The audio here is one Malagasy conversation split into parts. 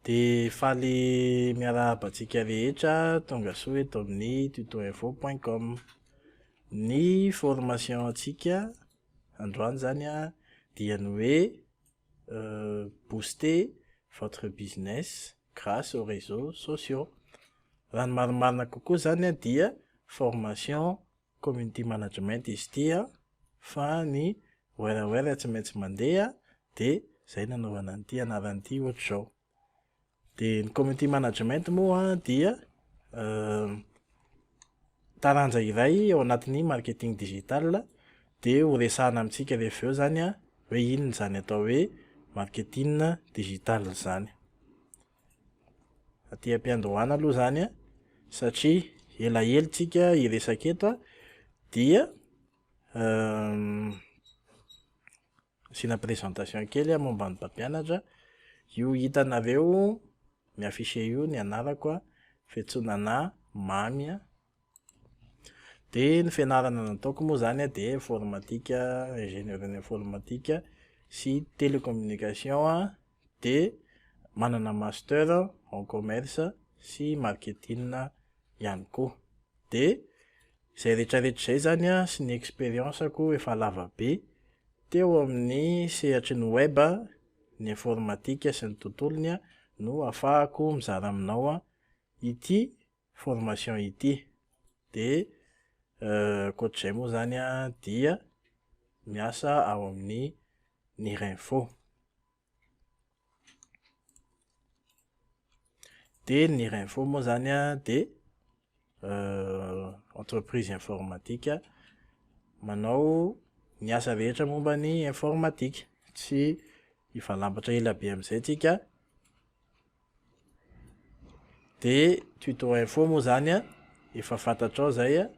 Dia faly miarahaba antsika rehetra tongasoa eto amin'ny tutoinfo point com. Ny formation antsika androany izany an, dia ny hoe booster votre business grace aux reseaux sociaux. Raha ny marimarina kokoa izany an dia formation. community management izy ity an, fa ny werewere tsy maintsy mandeha dia izay nanaovana an'ity anarana ity ohatr'izao. Dia ny community management moa dia taranja iray ao anatin'ny marketing digital dia ho resahana amintsika rehefa eo izany an hoe inona izany atao hoe marketing digital izany. Aty am-piandohana aloha izany an, satria elaela tsika hiresaka eto an, dia asiana présentation kely aho momba ny mpampianatra, io hitanareo mi-afficher io ny anarako an, Fetsonanà Mamy an. Dia ny fianarana nataoko moa izany an, dia informatique, ingénieur en informatique sy télécommunication an, dia manana master en commerce sy marketing ihany koa. Dia izay rehetrarehetra izay izany an, sy ny expérience-ko efa lava be teo amin'ny sehatry ny web, ny informatique sy ny tontolony an, no ahafahako mizara aminao ity formation ity de ankoatr'izay moa zany an dia miasa ao amin'ny Nirinfo. De ny Nirinfo moa zany an de entreprise informatique manao ny asa rehetra momba ny informatique. Tsy hivalapatra ela be amin'izay tsika. de tuto info moa zany a efa fantatrao zay a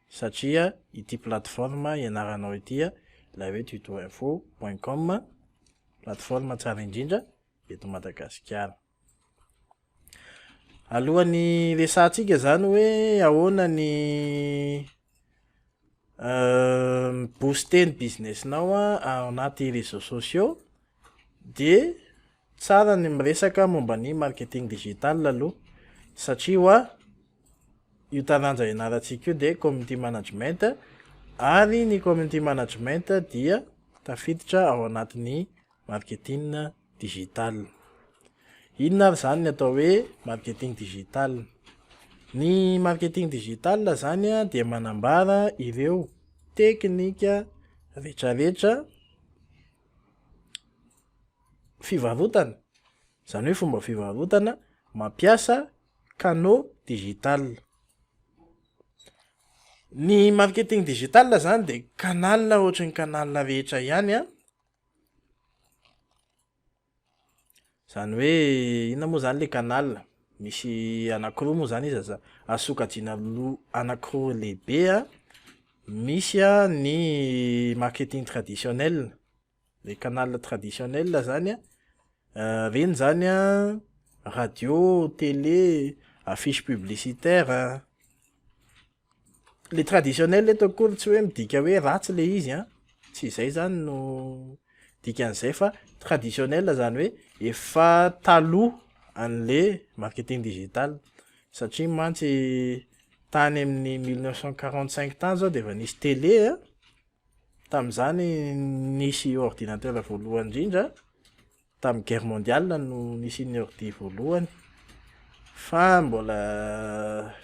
satria ity plateforme ianaranao ity a ilay hoe tuto info point com plateforme tsara indrindra eto Madagasikara alohan'ny resahantsika zany hoe ahoana ny mi-booster ny business-nao ao anaty réseaux sociaux de tsara ny miresaka momba ny marketing digital aloha satria hoa io taranja ianarantsika io dia community management ary ny community management dia tafiditra ao anatin'ny Marketing Digital. Inona ary izany ny atao hoe Marketing Digital? Ny Marketing Digital izany dia manambara ireo teknika retraretra fivarotana, izany hoe fomba fivarotana mampiasa canaux digital. Ny Marketing Digital izany dia canal ohatry ny canal rehetra ihany Zany hoe inona moa zany le canal? Misy anakiroa moa zany izy aza azo sokajiana roa anakiroa lehibe a, misy a ny marketing traditionnel, le canal traditionnel zany a, reny zany a radio, tele, affiche publicitaire a. le traditionnel eto akory tsy hoe midika hoe ratsy le izy an, tsy izay zany no dikan'izay fa traditionnel zany hoe efa taloha an'le marketing digital satria mantsy tany amin'ny mille neuf cent quarante cinq tany zao de efa nisy tele an, tamin'izany nisy ordinateur voalohany indrindra, Tamin'ny guerre mondiale no nisian'ny ordi voalohany fa mbola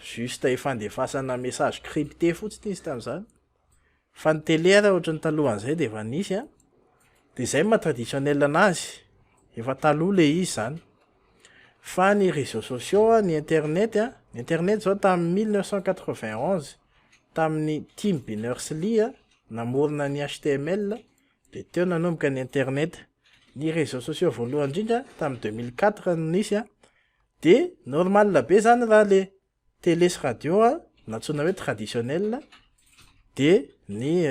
juste ifandefasana message crypté fotsiny izy tamin'izany fa ny télé ary ohatran'ny talohan'izay dia efa nisy an, dia izay ny maha traditionnel anazy, efa taloha ilay izy izany, fa ny réseaux sociaux an, ny internet an, ny internet izao tamin'ny mille neuf cent quatre-vingt onze tamin'ny Tim Berners-Lee namorona ny HTML, Dia teo nanomboka ny internet. Ny réseaux sociaux voalohany indrindra tamin'ny deux mille quatre no nisy an, dia normal be izany raha ilay télé sy radio nantsoina hoe traditionnel, dia ny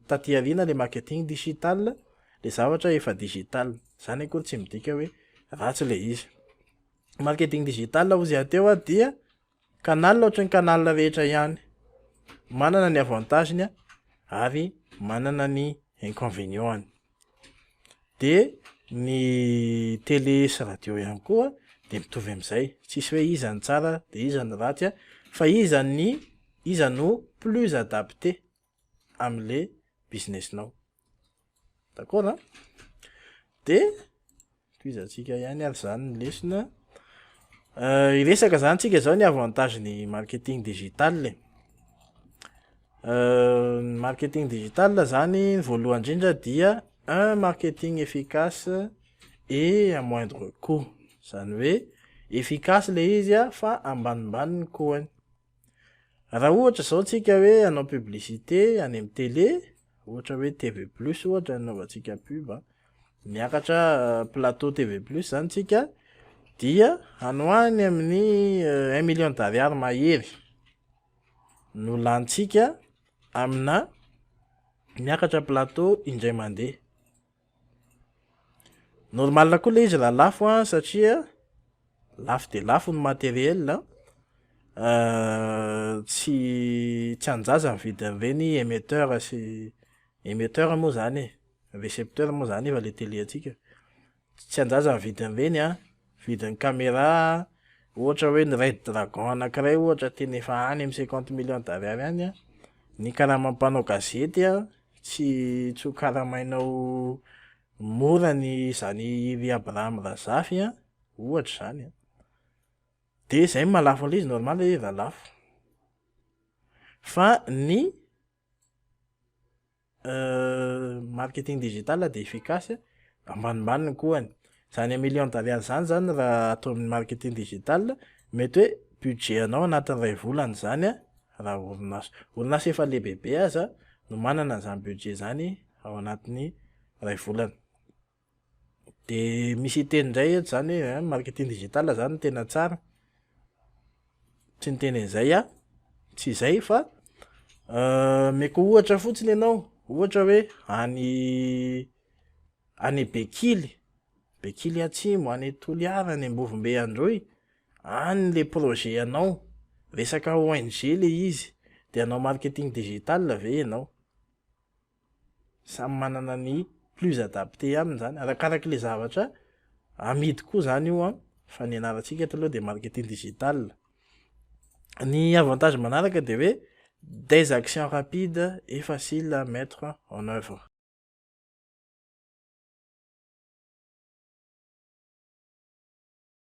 taty aoriana ilay marketing digital, ilay zavatra efa digital. Izany akory tsy midika hoe ratsy ilay izy. Marketing digital hozy aho teo dia. Canal ohatry ny canal rehetra ihany, manana ny avantage-ny ary manana ny inconvénient-ny. De ny télé sy radio ihany koa de mitovy amin'izay, tsisy hoe iza no tsara de iza no ratsy fa iza ny iza no plus adapté. amle business nao d'accord an de toizantsika ihany ary zany ny lesona euh, iresaka zany tsika zao ny avantage ny marketing digital e. euh, ny marketing digital zany ny voalohany indrindra dia un marketing efficace et à moindre coût zany hoe efficace le izy a fa ambanimbaniny kohany Raha ohatra izao tsika hoe hanao publicité any amin'ny télé, ohatra hoe TV plus ohatra ny anaovantsika pub a, miakatra plateau TV plus izany tsika dia any ho any amin'ny un million d'ariary mahery no lanintsika amina miakatra plateau indray mandeha. Normal koa ilay izy raha lafo an, satria lafo dia lafo ny matériel an, tsy tsy an-jaza ny vidin'ireny émetteur sy émetteur moa izany e, récepteur moa izany efa ilay tele antsika, tsy an-jaza ny vidin'ireny an, Vidin'ny camera ohatra hoe ny Red Dragon anankiray ohatra tena efa any amin'ny cinquante millions d'ariary any an! Ny karaman'ny mpanao gazety an! Tsy tsy ho karamainao mora ny izany i ry Abraham Razafy an! Ohatra izany an! Dia izay no maha lafo an'ilay izy normal ilay izy raha lafo. Fa ny. Marketing digital dia efficace ambanimbany ny kohany, izany million d'ariary izany zany raha atao amin'ny marketing digital mety hoe budget anao anatin'ny iray volana izany an, raha orinasa orinasa efa lehibebe aza no manana an'izany budget izany ao anatin'ny iray volana. Dia misy hiteny indray eto izany hoe an, marketing digital izany no tena tsara. Tsy niteny an'izay aho, tsy izay fa omeko ohatra fotsiny ianao, ohatra hoe any any Bekily, Bekily Atsimo, any Toliara, any Ambovombe Androy, any ilay projet anao, resaka ONG ilay izy, dia hanao marketing digital ve ianao? Samy manana ny plus adapté aminy zany, arakaraky le zavatra amidy koa zany io an, fa ny anarantsika eto aloha dia marketing digital. Ny avantage manaraka dia hoe des actions rapides et faciles à mettre en œuvre.